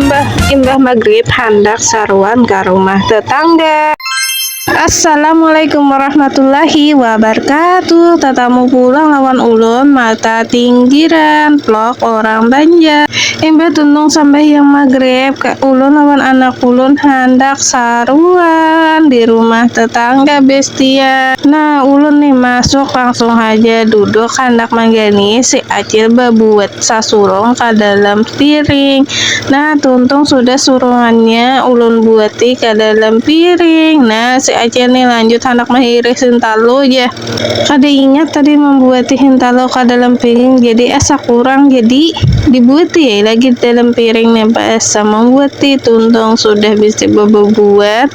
Imbah, imbah maghrib handak saruan ka rumah tetangga. Assalamualaikum warahmatullahi wabarakatuh Tatamu pulang lawan ulun Mata tinggiran Vlog orang Banjar Imbah tuntung sambahyang maghrib Ulun lawan anak ulun handak saruan Di rumah tetangga bestian Nah ulun nih masuk langsung haja duduk handak manggani si kecil babuat sasurung ka dalam piring. Nah, tuntung sudah surungannya ulun buati ka dalam piring. Nah, si Acil ni lanjut handak mahirih hintalu ja. Kada ingat tadi mambuati hintalu ka dalam piring jadi asa kurang jadi dibuati ai lagi dalam piring nih. Ba'asa mambuati tuntung sudah bisi bababuat.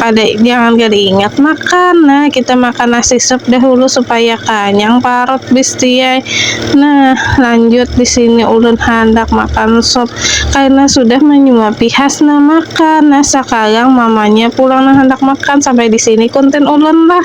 kada jangan kada ingat makan nah kita makan nasi sup dahulu supaya kanyang parut bistiai nah lanjut di sini ulun handak makan sup karena sudah menyuapi Hasna makan nah sakarang mamanya pulang nang handak makan sampai di sini konten ulun lah.